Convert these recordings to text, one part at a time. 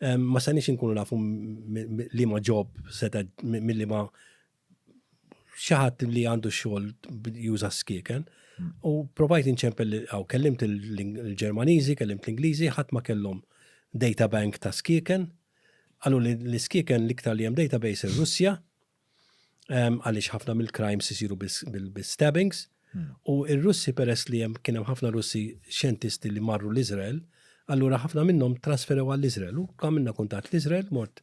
Ma sanix inkunu nafu li ma ġob seta mill-li ma xaħat li għandu xol juża skiken. Hmm. U provajt inċempel għaw, kellimt il-Ġermaniżi, kellimt l-Ingliżi, ħadd ma kellhom data bank ta' skiken. Għallu li l-skiken l-iktar li hemm database il-Russja, għaliex ħafna mill-crimes isiru bil-stabbings. Hmm. U r-Russi peress li hemm kien hemm ħafna Russi xjentisti li marru l-Iżrael, allura ħafna minnhom trasferew għall-Iżrael. U għamilna kuntat l-Iżrael mort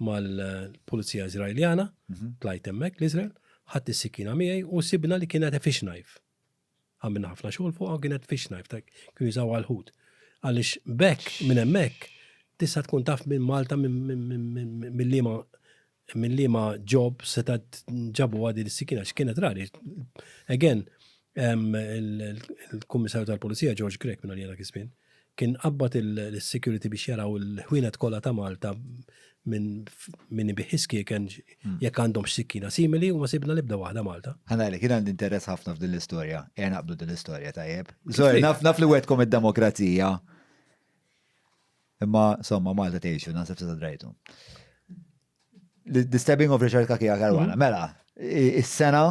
mal-Pulizija Iżraeljana, mhm. tlajt hemmhekk l-Iżrael, ħadd is-sikina miegħi u sibna li kienet effish knife. għamilna ħafna xogħol fuqha kienet fish knife ta' kienu jużaw għal ħut. Għaliex bekk minn hemmhekk tista' tkun taf minn Malta minn liema minn liema ġob seta' ġabu għadi l-sikina x'kienet rari. Again, il-Kummissarju tal-Pulizija George Grek minn għalija dak iż-żmien, Kien qabbad lis-security biex jaraw il-ħwienet kollha ta' Malta minn min ibigħ is-skieken jekk għandhomx sikkina simili u ma sibna l-ebda waħda Malta. Ħa ngħidlek, jien għandi interess ħafna f'din l-istorja. Ejja naqbdu din l-istorja, tajjeb? Sorry, naf naf li wegħdkom id-demokrazija. Imma, insomma, Malta tgħixu, naħseb se drajtu. The Stabbing of Richard Kakia Caruana. Mela, is-sena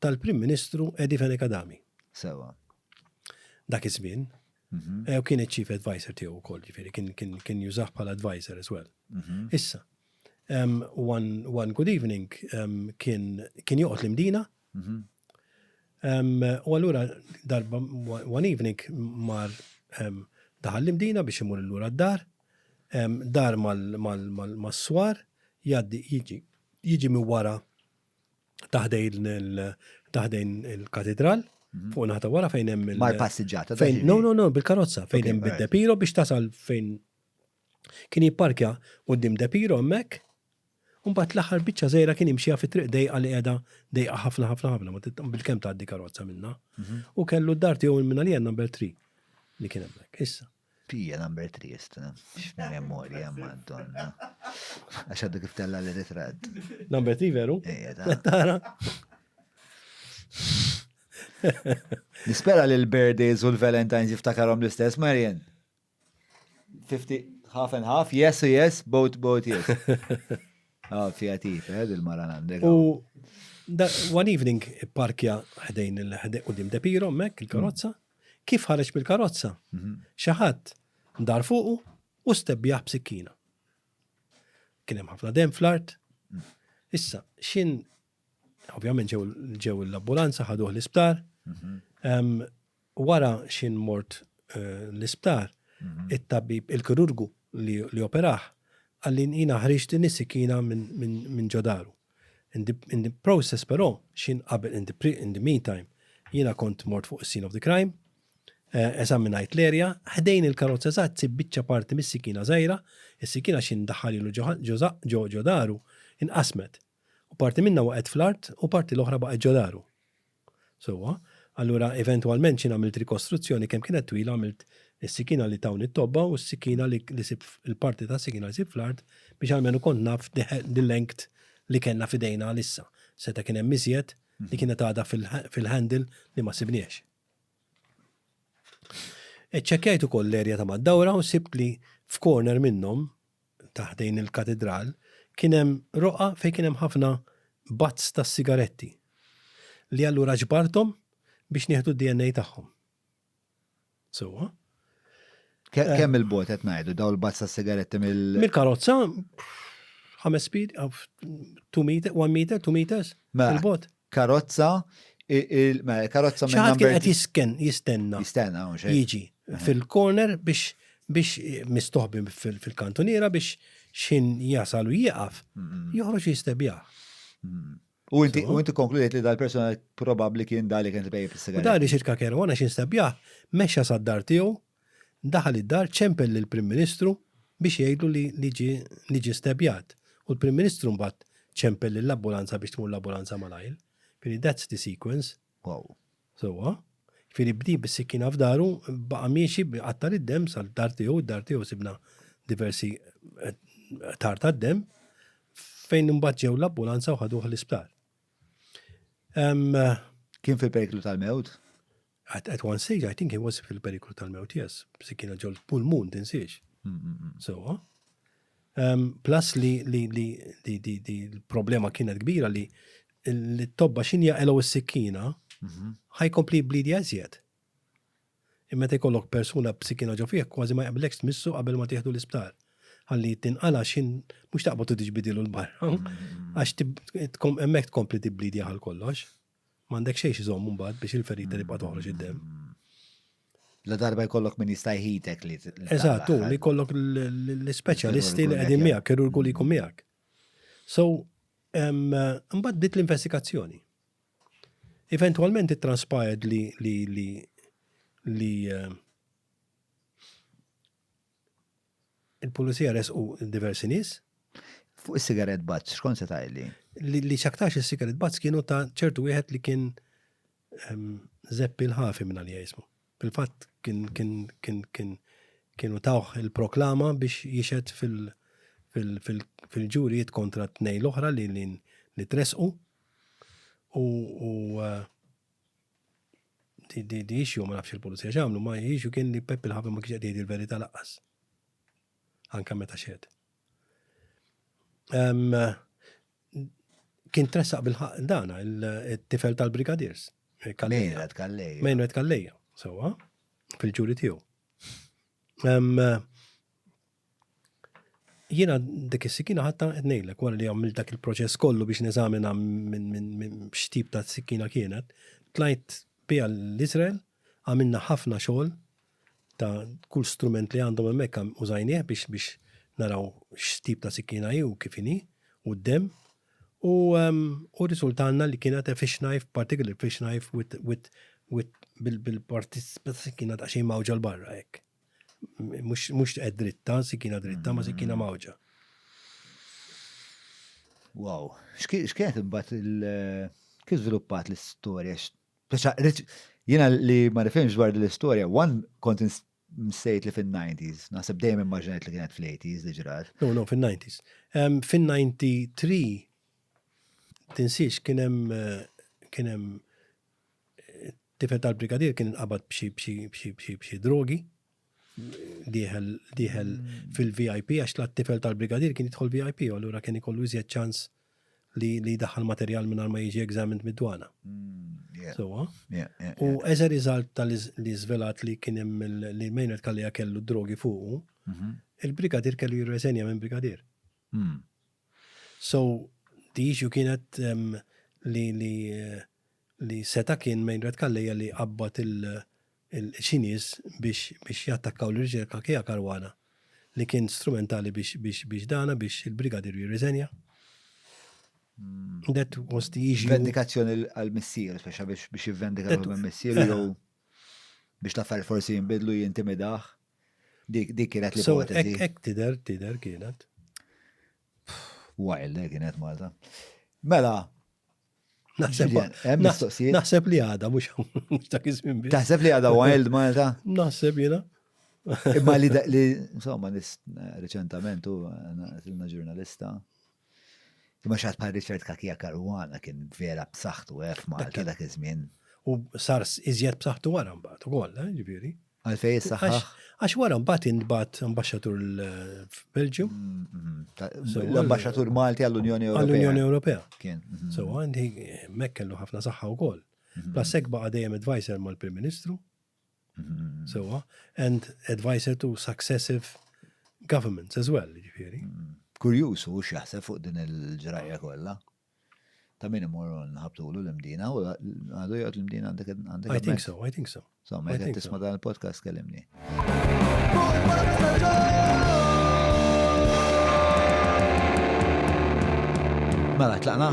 tal-Prim Ministru Edi Fenech Adami. Sewa. Dak iż-żmien. Mhm. Eh, u kien iċ-Chief Advisor tiegħu wkoll, ġifieri kien jużah bħala advisor as well. Mhm. Issa, one good evening kien joqgħod l-imdina. Mhm. U allura darba one evening mar daħal l-imdina biex imur l-lura d-dar, dar mal-swar, jaddi jiġi jiġi mi wara taħdejn taħdejn il-katidral, mhm. fuq naħta wara fejn hemm il- Mar passiġġata. Fejn, no, no, no, bil-karozza, fejn hemm bid-depiro biex tasal fejn kien jipparkja qudiem depiro hemmhekk. Mbagħad l-aħħar biċċa żejra kien imxija fi triq dejqa li qiegħda dejqa ħafna ħafna ħafna ma bil-kemm tgħaddi karozza minna. Mhm. U kellu d-dar tiegħu minn li number 3 li kien hemmhekk. Issa. Pia number 3 sta. X'memorja Madonna. Għax għaddu kif tella li ritratt. Number 3 veru? Ejja ta. Tara. Nispera li l-birthdays u l-Valentine's jiftakarom l-istess, Marian. 50, half and half, yes, yes, both, both, yes. Ah, fija tif, eh, il-mara għandek. U one evening parkja ħdejn il-ħdejn u dim depiro, mek, il-karozza, Kif ħareġ mill-karozza, xi ħadd ndar fuqu u stebbjah b'sikkina. Kien hemm ħafna demm fl-art. Issa, x'in ovvjament ġew l-ambulanza ħaduh l-isptar. Wara x'in mort eh, l-isptar, it-tabib il-kirurgu li operaħ għallin jina ħriġt din is-sikkina minn ġodaru. In the, in the process però, xin qabel in the, pre, in the meantime, jiena kont mort fuq is-scene of the crime, eh, eżaminajt l-erja, ħdejn il-karozza eżatt sib biċċa parti mis-sikina żgħira, is-sikina xin daħalilu ġo ġo daru inqasmet. U parti minna waqgħet fl-art u parti l-oħra baqgħet ġo daru. Sewwa, allura eventwalment xi għamilt rikostruzzjoni kemm kienet twila għamilt is-sikina li tawni t-tobba u s-sikina li li sib il-parti tas-sikina li sib fl-art biex almenu kont naf l-length li kellna f'idejna għalissa. Seta' kien hemm iżjed li kienet għadha fil-handle li ma sibnihiex. Iċċekkjajt ukoll l-area ta' mad-dawra u sibt li f'corner minnhom ta' ħdejn il-katidral kien hemm roqgħa fejn kien hemm ħafna butts ta' sigaretti li allura ġbarthom biex nieħdu d-DNA tagħhom. Sewwa? Eh. Kemm il-bot qed ngħidu daw il-buzz ta' sigaretti mill. Mill-karozza, ħames speed, 2 meter, 1 meter, 2 meters, mela, il-bot. karozza, mela karozza minn number. Xi ħadd kien qed jistenna. Jistenna hawn xejn. Jiġi fil-corner biex biex mistoħbi fil-kantuniera biex xin jasal u jieqaf, joħroġ jistebja. U inti u inti konkludejt li dal-persuna probabbli kien dali kien tbejjeb is-sigaret. Dali xirka kerwana xi nstabjah, mexxa sad-dar tiegħu Daħal id-dar ċempel lill-Prim Ministru biex jgħidlu li ġie stebjat u l-Prim Ministru mbagħad ċempel lill-ambulanza biex tmur l-ambulanza malajr. Jiġifieri that's the sequence. Wow. Sewwa. Jiġifieri bdi bis-sikkina f'daru, baqa' miexi qatta' lid-demm sal-dar tiegħu, id-dar tiegħu sibna diversi eh, tar tad-demm fejn imbagħad ġew l-ambulanza u ħaduh l-isptar. Kien fi periklu tal-mewt? At, at one stage, I think he was fil-periklu tal-mewt, yes. Se kienu ġol pulmun, tinsiex. So, um, plus li, li, li, li, li, li l-problema kienet kbira li l-tobba xinja elo s-sikkina, mhm. ħaj kompli blidi għazjet. Imma te kollok persuna b'sikkina ġo fih, kważi ma jaqblekx tmissu qabel ma tieħdu l-isptar. Għalli tinqala xin mux taqbad u tiġbidilu l-barra, mhm. għax emmek tkompli tibblidi għal kollox. M'għandek xejn x'żomm imbagħad biex il-ferita tibqa' toħroġ id-demm. La darba jkollok min jista' jħitek li. Eżatt, u li jkollok l-ispeċjalisti li qegħdin miegħek, kirurgu li jkun miegħek. So, mbagħad bdiet l-investigazzjoni. Eventwalment it-transpired li li li li Il-Pulizija resqu diversi nies. Fuq is-cigarette butts x'kont se tgħidli? Li x'aktarx is-cigarette butts kienu ta' ċertu wieħed li kien ehm, Zeppi l-Ħafi minn għalija jismu. Fil-fatt kien kien kien kien kienu tawh il-proklama biex jixed fil- fil-ġurijiet kontra t-tnej l-oħra li li tresqu u eh, Di issue ma nafx il-pulizija x'għamlu, ma issue kien li Peppi l-ħabib ma kienx qed jgħid il-verità laqqas. Anke meta xed. Kien tressaq bil-ħaq dana il-tifel tal-brigadiers. Mejret Kalleja. Mejret Kalleja, sewa, fil-ġuri tiegħu. Jiena dik is-sikina ħatta qed ngħidlek wara li għamilt dak il-proċess kollu biex neżamina minn x'tip ta' sikina kienet, tlajt biha l-Iżrael, għamilna ħafna xogħol ta' kull strument li għandhom hemmhekk użajnieh biex biex naraw x'tip ta' sikina hi u kif inhi u d-demm u u riżultalna li kienet a fish knife, particularly fish knife with with with bil-parti tas-sikina daqsxejn mgħawġa 'l barra hekk. Mux tqed dritta, sikina dritta, ma sikina mawġa. Wow, xkienet imbat il- kif żviluppat l-istorja? Jena li ma nifhimx dwar l-istorja, one kont msejt li fin-90s, naħseb dejjem immaġinajt li kienet fl-80s li ġrat. No, no, fin-90s. Fin-93 tinsiex kien hemm Tifel tal-brigadier kien inqabad b'xi drogi, diħel fil-VIP, għax la tifel tal-brigadier kien jidħol VIP, u allura kien ikollu iżjed ċans li daħal materjal minn ma jiġi examined mid-dwana. Mm, Sowa. U as a result tal-li zvelat li kien hemm li Maynard Kallija kellu drogi fuqu, mhm. il-brigadier kellu jirreżenja minn brigadier. Mm. So the issue kienet li li li seta kien Meinrad Calleja li qabbad il xi nies biex biex jattakkaw l-riċerka Kea Caruana li kien strumentali biex biex biex dana biex il-Brigadier jirriżenja. That was the issue. Vendikazzjoni għal-missier, speċa biex jivvendika l-missier jew biex l-affarijiet forsi jinbidlu jintimidaħ. Dik dik kienet li So, ek, ipotezi. ek tider, tider kienet. Wild, eh, kienet Malta. Mela, Naħseb, Julian, hemm naħ- mistoqsijiet? naħseb li għada, mux mux dak iż-żmien biss. taħseb li għada wild Malta? Naħseb jena. Imma li, da- li insomma, nis reċentament u għanna ġurnalista. Imma xaħat bħal Richard Kakija Karwana kien vera b'saħħtu eh, f'Malta dak iż-żmien. U sar s- iżjed b'saħħtu wara mbagħad ukoll, eh, ġifieri. Għalfejn issaħħaħ? Għax wara mbagħad intbagħat ambaxxatur l-Belġju. L-ambaxxatur Malti għall-Unjoni Ewropea. Għall-Unjoni Ewropea. Kien. Mhm. So għandi hemmhekk kellu ħafna saħħa wkoll. Mhm. Plus hekk baqa' dejjem advisor mal-Prim Ministru. Mhm. Sewa, and advisor to successive governments as well, ġifieri. Kurjuż u x'jaħseb fuq din il-ġrajja kollha. Ta' min imorru nħabtulu l-imdina, u għadu jgħod l-imdina għandek għandek. I think so, I think so. So, ma jgħod tisma dan il-podcast kellimni. Mela, tlaqna?